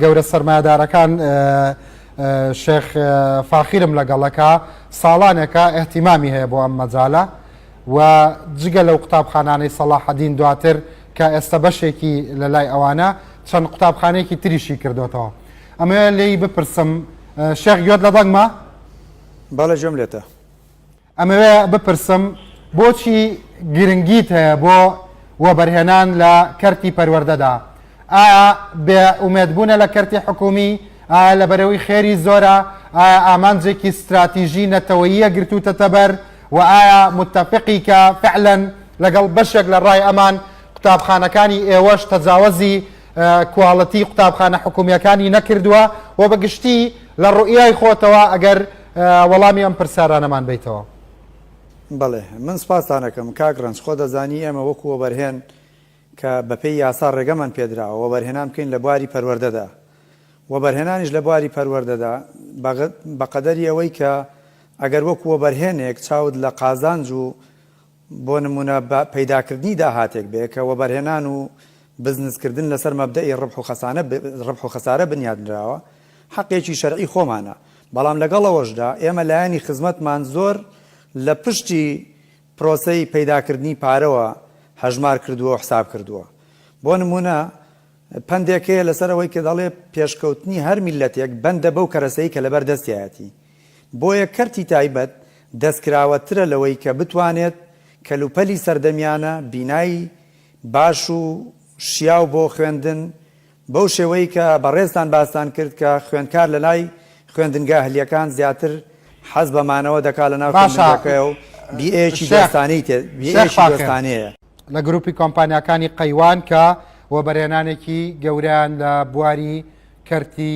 گەورە سەرمایەدارەکان شێخ فاخیرم لەگەڵەکە ساڵانێکە ئەهتیمامی هەیە بۆ ئەم مەجالە و جگە لەو قوتابخانانەی سەڵاحەدین دواتر کە ئێستا بەشێکی لە لای ئەوانە چەند قوتابخانێکی تریشی کردوێتەوە ئەمە لێی بپرسم شێخ گوێت لە دەنگمە؟ بەڵێ گوێم لێتە. ئەمەوێ بپرسم بۆچی گرنگیت هەیە بۆ وەبەرهێنان لە کەرتی پەروەردەدا؟ ئایا بێ ئومێدبوونە لە کەرتی حکوومی؟ ئایا لەبەرەوەی خێری زۆرە؟ ئایا ئامانجێکی ستراتیژی نەتەوەییە گرتووتەتە بەر؟ و ئایا متەفقیکە فعلەن لەگەڵ بەشێک لە ڕای ئەمان قوتابخانەکانی ئێوەش تەجاوەزی کواڵتی قوتابخانە حکوومییەکانی نەکردووە؟ و بە گشتی لە ڕوئیای خۆتەوە ئەگەر وەڵامی ئەم پرسارانەمان بەیتەوە. بەڵێ من سپاستان ئەکەم کاک ڕەنج خۆ دەزانی ئێمە وەکو وەبەرهێن کە بەپێی یاسا ڕێگەمان پێدراوە وەبەرهێنان بکەین لە بواری پەروەردەدا وەبەرهێنانیش لە بواری پەروەردەدا بەقەدەری ئەوەی کە ئەگەر وەکو وەبەرهێنێک چاوت لە قازانج و بۆ نموونە بە پەیداکردنی داهاتێک بێ کە وەبەرهێنان و بزنسکردن لەسەر مەبدەئی ڕبح و خەسانە ڕبح و خەسارە بنیادنراوە، حەقێکی شەرعی خۆمانە، بەڵام لەگەڵ ئەوەشدا ئێمە لایەنی خزمەتمان زۆر لە پشتی پرۆسەی پەیداکردنی پارەوە هەژمار کردووە و حساب کردووە. بۆ نموونە پەندێک هەیە لەسەر ئەوەی کە دەڵێ پێشکەوتنی هەر میللەتێک بەندە بەو کەرەسەی کە لەبەر دەستیایەتی. بۆیە کەرتی تایبەت دەستکراوەترە لەوەی کە بتوانێت کەلوپەلی سەردەمیانە بینای باش و شیاو بۆ خوێندن بەو شێوەی کە بەڕێزتان باستان کرد کە خوێندکار لەلای خوێندنگە هلیەکان زیاتر حەز بە مانەوە دەکات لەناو باشە خوێندنگەکەیە و بیئەیەکی شێخ دۆستانەی تێ شێخ بیئەیەکی فاخر دۆستانەیە. لە گروپی کۆمپانیاکانی قەیوان کە وەبەرهێنانێکی گەورەیان لە بواری کەرتی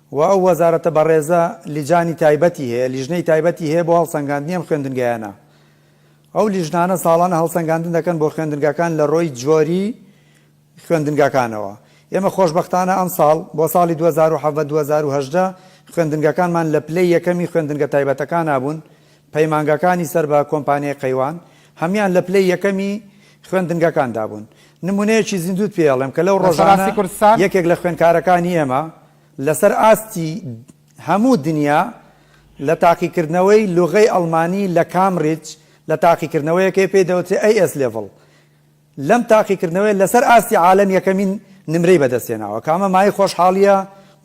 و ئەو وەزارەتە بەڕێزە لیجانی تایبەتی هەیە، لیژنەی تایبەتی هەیە بۆ هەڵسەنگاندنی ئەم خوێندنگایانە. ئەو لیژنانە ساڵانە هەڵسەنگاندن دەکەن بۆ خوێندنگاکان لە رۆی جۆری خوێندنگاکانەوە. ئێمە خۆشبەختانە ئەمساڵ، بۆ ساڵی دوو هەزار و حەڤدە دوو هەزار و هەژدە، خوێندنگاکانمان لە پلەی یەکەمی خوێندنگە تایبەتەکانا بوون، پەیمانگاکانی سەر بە کۆمپانیای قەیوان هەموان لە پلەی یەکەمی خوێندنگەکاندا بوون. نمونەیەکی زیندووت پێ ئەڵێم کە لەو ڕۆژانە یەکێک لە خوێندکارەکانی ئێمە لەسەر ئاستی هەموو دنیا لە تاقیکردنەوەی لوغەی ئەڵمانی لە کامریج لە تاقیکردنەوەیەکەی پێی دەوترێ AS Level لەم تاقیکردنەوەیە لەسەر ئاستی عالەم یەکەمین نمرەی بەدەستهێناوە، کە ئەمە مایەی خۆشحاڵییە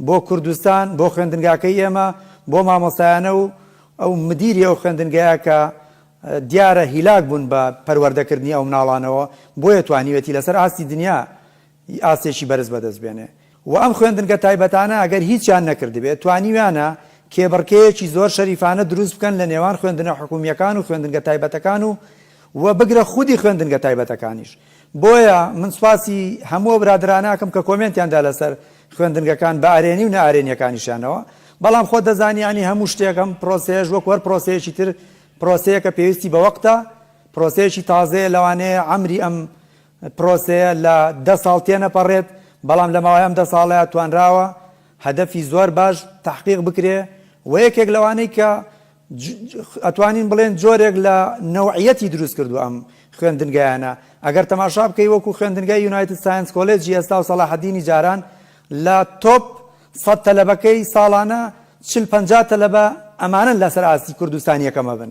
بۆ کوردستان، بۆ خوێندنگاکەی ئێمە، بۆ مامۆستایانە و ئەو مدیری ئەو خوێندنگایە کە دیارە هیلاک بوون بە پەروەردەکردنی ئەو مناڵانەوە، بۆیە توانیوێتی لەسەر ئاستی دنیا ی ئاستێکی بەرز بەدەست بێنێ و ئەم خوێندنگە تایبەتانە ئەگەر هیچیان نەکردبێ توانیویانە کێبڕکێیەکی زۆر شەریفانە دروست بکەن لە نێوان خوێندنە حکوومییەکان و خوێندنگە تایبەتەکان و و بگرە خودی خوێندنگە تایبەتەکانیش بۆیە من سوپاسی هەموو ئەو برادەرانە ئەکەم کە کۆمێنتیان دا لەسەر خوێندنگەکان بە ئەرێنی و نائەرێنییەکانیشیانەوە بەڵام خۆت دەزانی یانی هەموو شتێک ئەم پرۆسەیەش وەکوو هەر پرۆسەیەکی تر پرۆسەیەکە پێویستی بە وەقتە پرۆسەیەکی تازەیە لەوانەیە عەمری ئەم پرۆسەیە لە دە ساڵ تێنەپەڕێت، بەڵام لە ماوەی ئەم دە ساڵەیا توانراوە هەدەفی زۆر باش تەحقیق بکرێ و یەکێک لەوانەی کە ئەتوانین بڵێن جۆرێک لە نەوعیەتی دروست کردووە ئەم خوێندنگایانە ئەگەر تەماشا بکەی وەکو خوێندنگای یونایتد ساینس کۆلێجی ئێستا و سەڵاحەدینی جاران لە تۆپ سەد تەلەبەکەی ساڵانە چل پەنجا تەلەبە ئەمانەن لەسەر ئاستی کوردستان یەکەمە بن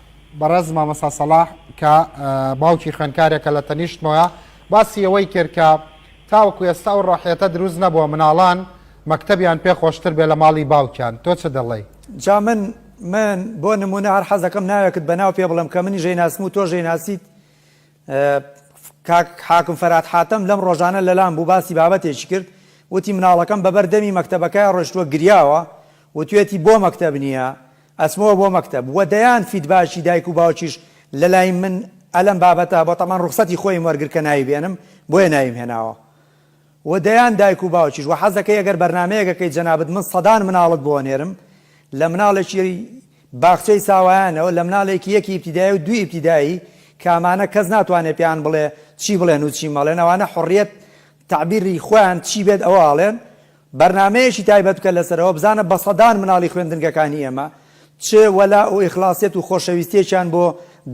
بەڕێز مامۆستا سەڵاح کە باوکی خوێندکارێکە لە تەنیشتمەوە باسی ئەوەی کرد کە تاوەکو ئێستا ئەو ڕۆحیەتە دروست نەبووە مناڵان مەکتەبیان پێ خۆشتر بێ لە ماڵی باوکیان تۆ چ دەڵێی؟ جا من من بۆ نموونە هەر حەز دەکەم ناوێکت بە ناو پێ بڵێم کە منیش ئەیناسم و تۆش ئەیناسیت کاک حاکم فەرات حاتەم لەم ڕۆژانە لەلام بوو باسی بابەتێکی کرد وتی مناڵەکەم بەبەر دەمی مەکتەبەکەیا ڕۆشتوە گریاوە وتوێتی بۆ مەکتەب نیە ئەچمەوە بۆ مەکتەب وە دەیان فیدباکی دایک و باوکیش لەلای من ئەلەم بابەتە بەتەمان ڕوخسەتی خۆیم وەرگر کە نایبێنم بۆیە نایم هێناوە و دەیان دایک و باوکیش وە حەز دەکەی ئەگەر بەرنامەیەک ئەکەی جەنابت من سەدان مناڵت بۆ ئەنێرم لە مناڵێکی باخچەی ساوایانەوە لە مناڵێکی یەک ئیبتیدایی و دوو ئیبتیدایی کە ئەمانە کەس ناتوانێت پێیان بڵێ چی بڵێن و چی مەڵێن ئەوانە حوڕیەت تەعبیری خۆیان چی بێت ئەوە ئەڵێن بەرنامەیەکی تایبەت بکە لەسەر ئەوە بزانە بە سەدان مناڵی خوێندنگەکانی ئێمە چ وەلا و ئیخڵاسیەت و خۆشەویستیەکیان بۆ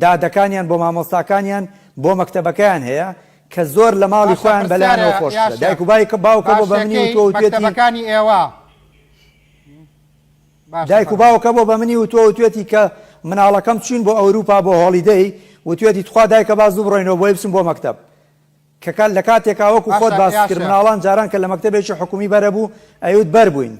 دادەکانیان بۆ مامۆستاکانیان بۆ مەکتەبەکەیان هەیە کە زۆر لە ماڵی باشە خۆیان بەلایانەوە پرسیارە خۆش یا ترە دایک و شێخ بایک باوکە بۆ بە منی باشەکەی وتوە وتوێتی مەکتەبەکانی ئێوە باشە دایک و فەرموو باوکە بۆ بە منی وتوە وتوێتی کە مناڵەکەم چوین بۆ ئەوروپا بۆ هۆڵیدەی وتوێتی تخوا دایکە با زوو بڕۆینەوە بۆی بچم بۆ مەکتەب کە کات لە کاتێکا وەکو خۆت باشە باست یا کرد شێخ مناڵان جاران کە لە مەکتەبێکی حکومی بەرەبوو ئەیوت بەر بوین